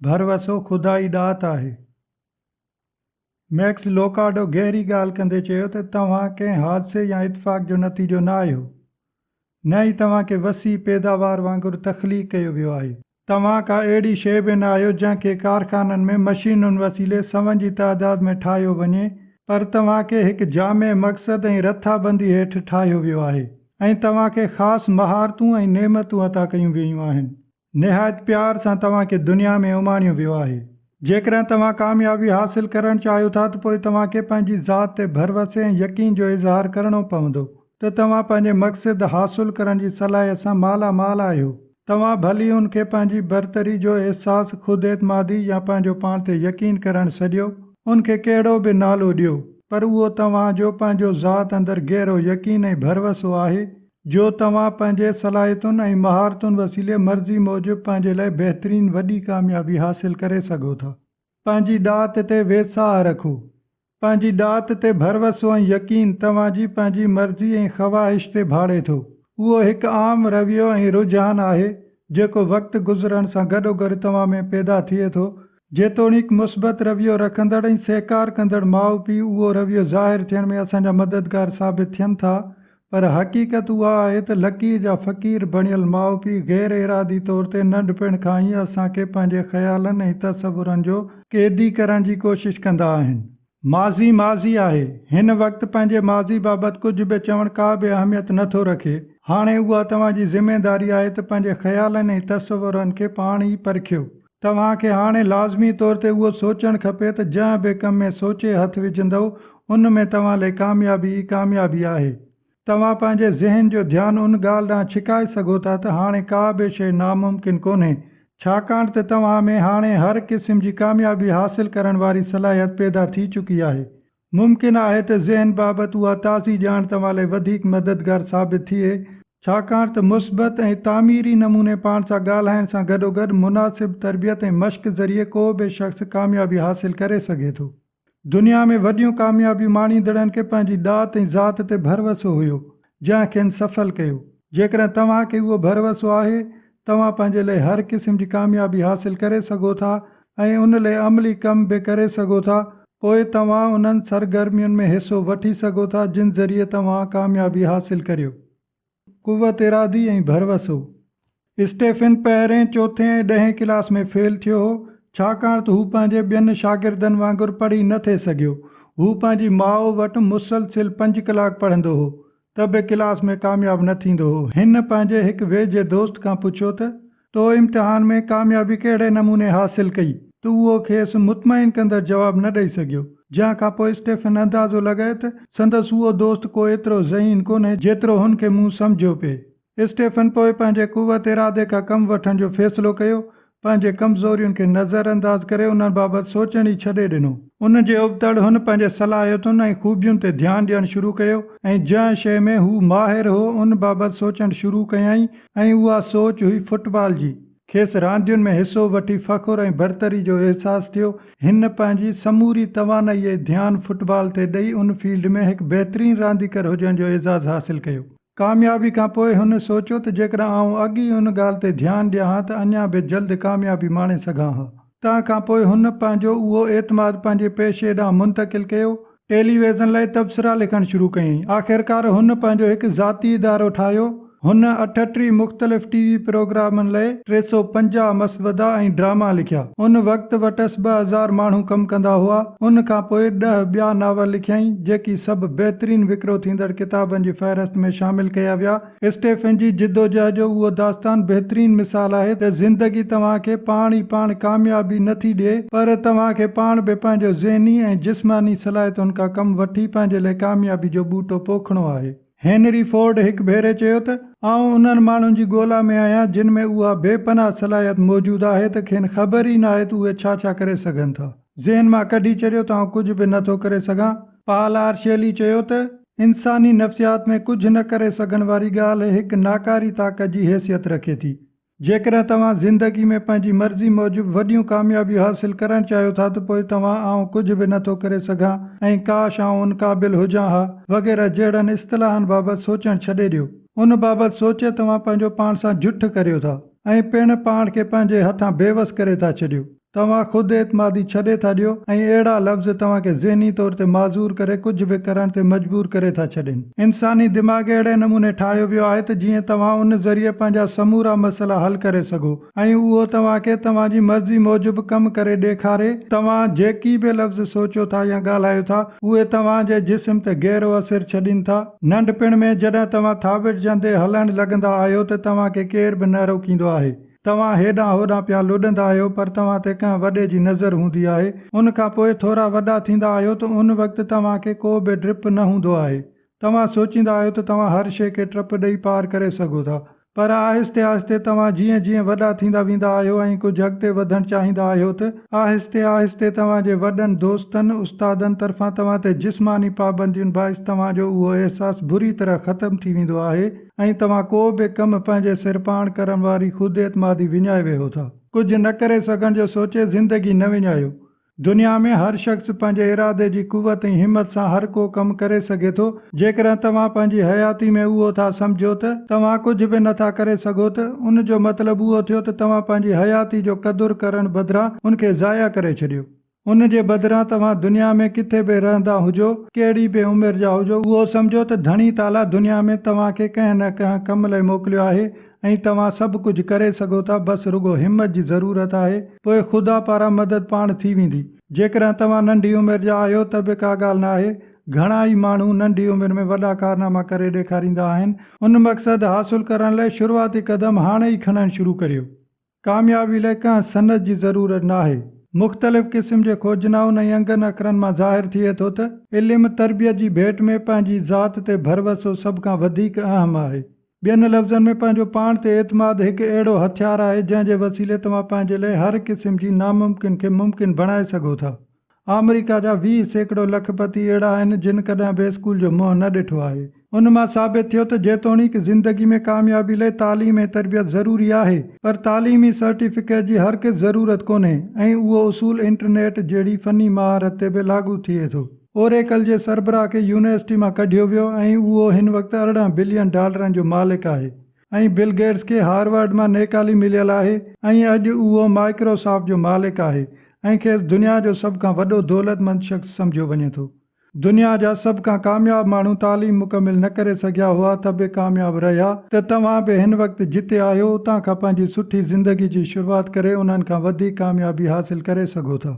ڀروسو خدا ئي ڏات آهي. ميڪس لوڪارڊو گهري ڳالهه ڪندي چيو ته توهان ڪنهن حادثي يا اتفاق جو نتيجو نه آهيو، نه ئي توهان کي وسيع پيداوار وانگر تخليق ڪيو ويو آهي. توهان ڪا اهڙي شيء به نه آهيو جنهن کي ڪارخانن ۾ مشينن وسيلي سون جي تعداد ۾ ٺاهيو وڃي، پر توهان کي هڪ جامع مقصد ۽ رٿابندي هيٺ ٺاهيو ويو آهي ۽ توهان کي خاص مهارتون ۽ نعمتون عطا ڪيون ويون آهن. نهايت پيار سان توهان کي دنيا ۾ اماڻيو ويو آهي. جيڪڏهن توهان ڪاميابي حاصل ڪرڻ چاهيو ٿا ته پوء توهان کي پنهنجي ذات تي ڀروسي ۽ يقين جو اظهار ڪرڻو پوندو ته توهان پنهنجي مقصد حاصل ڪرڻ جي صلاحيت سان مالا مال آهيو. توهان ڀلي ان کي پنهنجي برتري جو احساس، خود اعتمادي يا پنهنجو پاڻ تي يقين ڪرڻ سڏيو، ان کي ڪهڙو به نالو ڏيو، پر اهو توهان جو پنهنجو ذات اندر گهرو يقين ۽ ڀروسو آهي جو توهان پنهنجي صلاحيتن ۽ مهارتن وسيلي مرضي موجب پنهنجي لاء بهترين وڏي ڪاميابي حاصل ڪري سگهو ٿا. پنهنجي ڏات تي ويساهه رکو. پنهنجي ڏات تي ڀروسو ۽ يقين توهان جي پنهنجي مرضي ۽ خواهش تي ڀاڙي ٿو. اهو هڪ عام رويو ۽ رجحان آهي، جيڪو وقت گذرڻ سان گڏوگڏ توهان ۾ پيدا ٿئي ٿو جيتوڻيڪ مثبت رويو رکندڙ ۽ سهڪار ڪندڙ ماء پيء اهو رويو ظاهر ٿيڻ ۾ اسان جا مددگار ثابت ٿين ٿا پر حقيقت اها آهي ته لڪير جا فقير بڻيل ماء پيء غير ارادي طور تي ننڍپڻ کان ئي اسان کي پنهنجي خيالن ۽ تصورن جو قيدي ڪرڻ جي ڪوشش ڪندا آهن. ماضي ماضي آهي. هن وقت پنهنجي ماضي بابت ڪجهه به چوڻ ڪا به اهميت نه ٿو رکي. هاڻي اها توهان جي ذميواري آهي ته پنهنجي خيالن ۽ تصورن کي پاڻ ئي پرکيو. توهان کي هاڻي لازمي طور تي اهو سوچڻ کپي ته جنهن به ڪم ۾ سوچي هٿ وجهندؤ، ان ۾ توهان لئي ڪاميابي ئي ڪاميابي آهي. توهان پنهنجي ذهن جو ڌيان ان ڳالهه ڏانهن ڇڪائي سگهو ٿا ته هاڻي ڪا به شيء ناممڪن ڪونهي، ڇاڪاڻ ته توهان ۾ هاڻي هر قسم جي ڪاميابي حاصل ڪرڻ واري صلاحيت پيدا ٿي چڪي آهي. ممڪن آهي ته ذهن بابت اها تازي ڄاڻ توهان لاء وڌيڪ مددگار ثابت ٿئي، ڇاڪاڻ ته مثبت ۽ تعميري نموني پاڻ سان ڳالهائڻ سان گڏوگڏ مناسب تربيت ۽ مشق ذريعي ڪو به شخص ڪاميابي حاصل ڪري سگهي ٿو. دنيا ۾ وڏيون ڪاميابيون ماڻيندڙن کي پنهنجي ڏات ۽ ذات تي ڀروسو هيو جنهن کين سڦل ڪيو. جيڪڏهن توهان کي اهو ڀروسو آهي، توهان پنهنجي لئي هر قسم جي ڪاميابي حاصل ڪري سگهو ٿا ۽ ان لئي عملي ڪم به ڪري سگهو ٿا، پوء توهان انهن سرگرمين ۾ حصو وٺي سگهو ٿا جن ذريعي توهان ڪاميابي حاصل ڪريو. قوت ارادي ۽ ڀروس هو. اسٽيفن پهرين، چوٿين ۽ ڏهين ڪلاس ۾ فيل ٿيو هو، ڇاڪاڻ ته هو پنهنجي ٻين شاگردن وانگر پڙهي نه ٿي سگهيو. هو پنهنجي ماء وٽ مسلسل پنج ڪلاڪ پڙهندو هو، ته به ڪلاس ۾ ڪامياب نه ٿيندو هو. هن پنهنجي هڪ ويجهي دوست کان پڇيو ته، تو امتحان ۾ ڪاميابي ڪهڙي نموني حاصل ڪئي؟ تو اهو کيس مطمئن ڪندڙ جواب نه ڏئي سگهيو، جنهن کان پوء اسٽيفن اندازو لڳائي ته سندس اهو دوست ڪو ايترو ذهين ڪونهي جيترو هن کي مون سمجهيو پئي. اسٽيفن پوء پنهنجي قوت ارادي کان ڪم وٺڻ جو فيصلو ڪيو، پنهنجي ڪمزورين کي نظر انداز ڪري انهن بابت سوچڻ ئي ڇڏي ڏنو. ان جي ابتڙ هن پنهنجي صلاحيتن ۽ خوبين تي ڌيان ڏيڻ شروع ڪيو ۽ جنهن شيء ۾ هو ماهر هو ان بابت سوچڻ شروع ڪيائين، ۽ اها سوچ هئي فٽبال جي. کيس راندين ۾ حصو وٺي فخر ۽ برتري جو احساس ٿيو. هن پنهنجي سموري توانائي ۽ ڌيان فٽبال تي ڏئي ان فيلڊ ۾ هڪ بهترين رانديگر هجڻ جو اعزاز حاصل ڪيو. ڪاميابي کان پوء هن سوچيو ته جيڪڏهن آئون اڳ ئي ان ڳالهه تي ڌيان ڏيان ها ته اڃا به جلد ڪاميابي ماڻي سگهان ها. تنهن کان پوء هن پنهنجو اهو اعتماد پنهنجي پيشي ڏانهن منتقل ڪيو. ٽيلي ويزن لاء تبصرا لکڻ شروع ڪيائين. آخرڪار هن پنهنجو هڪ ذاتي ادارو ٺاهيو. هن اٺٽيهه مختلف ٽي وي پروگرامن لاء ٽي سؤ پنجاهه مسودا ۽ ڊراما لکيا. ان وقت وٽس ٻه هزار ماڻهو ڪم ڪندا هئا. ان کان پوء ڏهه ٻيا ناول لکيائين، جيڪي سڀ بهترين وڪرو ٿيندڙ ڪتابن جي فهرست ۾ شامل ڪيا ويا. اسٽيفن جي جدوجهد جو اهو داستان بهترين مثال آهي ته زندگي توهان کي پاڻ ئي پاڻ ڪاميابي نه ٿي ڏئي پر توهان کي پاڻ به پنهنجو ذهني ۽ جسماني صلاحيتن کان ڪم وٺي پنهنجي لاء ڪاميابي جو ٻوٽو پوکڻو آهي. هينري فورڊ هڪ ڀيري چيو ته، آئون انهن ماڻهن جي ڳولا ۾ آهيان جن ۾ اها بي پناهه صلاحيت موجود آهي ته کين خبر ئي ناهي ته اهي ڇا ڇا ڪري سگهن ٿا. ذهن مان ڪڍي ڇڏيو ته آئون ڪجهه به نه ٿو ڪري سگهان. پال آرشيلي چيو ته، انساني نفسيات ۾ ڪجهه نه ڪري سگهڻ واري ڳالهه هڪ ناڪاري طاقت جي حيثيت رکي ٿي. جيڪڏهن توهان زندگي ۾ پنهنجي مرضي موجب وڏيون ڪاميابيون حاصل ڪرڻ چاهيو ٿا ته پوء توهان آئون ڪجهه به نه ٿو ڪري سگهان ۽ ڪاش آئون ان قابل هجان ها وغيره جهڙن اصطلاحن بابت سوچڻ ڇڏي ڏيو. ان بابت سوچي توهان پنهنجو پاڻ سان جٺ ڪريو ٿا ۽ پڻ پاڻ کي پنهنجي هٿان بيوس ڪري ٿا ڇڏيو. توهان خود اعتمادي ڇڏي ٿا ڏيو ۽ اهڙا لفظ توهان کي ذهني طور تي معذور ڪري ڪجهه به ڪرڻ تي مجبور ڪري ٿا ڇڏين. انساني دماغ اهڙي نموني ٺاهيو ويو آهي ته جيئن توهان ان ذريعي پنهنجا سمورا مسئلا حل ڪري سگهو ۽ اهو توهان کي توهان جي مرضي موجب ڪم ڪري ڏيکاري. توهان جيڪي به لفظ سوچيو ٿا يا ڳالهايو ٿا اهي توهان جي جسم تي گهرو اثر ڇڏين ٿا. ننڍپڻ ۾ جڏهن توهان ٿاٻڙجندي هلڻ لڳندا آهيو ته توهان کي ڪير به نه روڪيندو آهي توهان هيڏانهن هوڏانهن پيا لڏندا آهيو پر توهان تي ڪنهن وڏي جي نظر هوندي آهي. ان کان پوء ٿورا وڏا ٿيندا آهيو ته ان وقت توهان کي ڪو به ڊپ نه هوندو آهي. توهان سوچيندا آهيو ته توهان هر شيء کي ٽپ ڏئي پار ڪري سگهو ٿا. پر آهستي آهستي توهان جيئن جيئن وڏا ٿيندا ويندا آهيو ۽ ڪجهه اڳتي وڌڻ چاهيندا آهيو ته آهستي آهستي توهان جي وڏن دوستن، استادن طرفان توهان تي جسماني پابندين باعث توهان جو اهو احساس بري طرح ختم ٿي ويندو آهي ۽ توهان ڪو به ڪم پنهنجي سر پاڻ ڪرڻ واري خود اعتمادي وڃائي ويهو ٿا. ڪجهه نه ڪري سگهڻ جو سوچي زندگي نه وڃايو. دنيا ۾ هر شخص پنهنجي ارادي جي قوت ۽ همت سان هر ڪو ڪم ڪري سگهي ٿو. جيڪڏهن توهان پنهنجي حياتي ۾ اهو ٿا سمجهو ته توهان ڪجهه به نه ٿا ڪري سگهو ته ان جو مطلب اهو ٿيو ته توهان پنهنجي حياتي جو قدر ڪرڻ بدران ان کي ضايع ڪري ڇڏيو. ان جي بدران توهان دنيا ۾ ڪٿي به رهندا هجو، ڪهڙي به عمر جا هجو، اهو سمجهو ته ڌڻي تعاليٰ دنيا ۾ توهان کي ڪنهن نه ڪنهن ڪم لئه موڪليو آهي ۽ توهان سڀ ڪجهه ڪري سگهو ٿا بس رڳو همت جي ضرورت آهي پوء خدا پاران مدد پاڻ ٿي ويندي. جيڪڏهن توهان ننڍي عمر جا آهيو ته به ڪا ڳالهه ناهي، گهڻا ئي ماڻهو ننڍي عمر ۾ وڏا ڪارناما ڪري ڏيکاريندا آهن، ان مقصد حاصل ڪرڻ لئه شروعاتي قدم هاڻي ئي کڻڻ شروع ڪريو. ڪاميابي لاء ڪنهن سند جي ضرورت ناهي. مختلف قسم جي کوجنائن ۽ انگن اکرن مان ظاهر ٿئي ٿو ته علم تربيت جي ڀيٽ ۾ پنهنجي ذات تي ڀروسو سڀ کان وڌيڪ اهم آهي. ٻين لفظن ۾ پنهنجو پاڻ تي اعتماد هڪ اهڙو هٿيار آهي جنهن جي وسيلي توهان پنهنجي لاء هر قسم جي ناممڪن کي ممڪن بڻائي سگهو ٿا. آمريڪا جا ويهه سيڪڙو لک پتي اهڙا آهن جن ڪڏهن به اسڪول جو منهن نه ڏٺو آهي. ان مان ثابت ٿيو ته جيتوڻيڪ زندگي ۾ ڪاميابي لئي تعليم ۽ تربيت ضروري آهي پر تعليمي سرٽيفڪيٽ جي هرگز ضرورت ڪونهي ۽ اهو اصول انٽرنيٽ جهڙي فني مهارت تي به لاڳو ٿئي ٿو. اوريڪل جي سربراهه کي يونيورسٽي مان ڪڍيو ويو ۽ اهو هن وقت ارڙهن بلين ڊالرن جو مالڪ آهي. ۽ بل گيٽس کي هارورڊ مان نيڪالي مليل آهي ۽ اڄ اهو مائڪروسافٽ جو مالڪ آهي ۽ کيس دنيا جو سڀ کان وڏو دولتمند شخص سمجهيو وڃي ٿو. دنيا جا سڀ کان ڪامياب ماڻهو تعليم مڪمل نه ڪري سگهيا هئا ته به ڪامياب رهيا ته توهان به هن وقت جتي آهيو اتان کان پنهنجي سٺي زندگي جي شروعات ڪري انهن کان وڌيڪ ڪاميابي حاصل ڪري سگهو ٿا.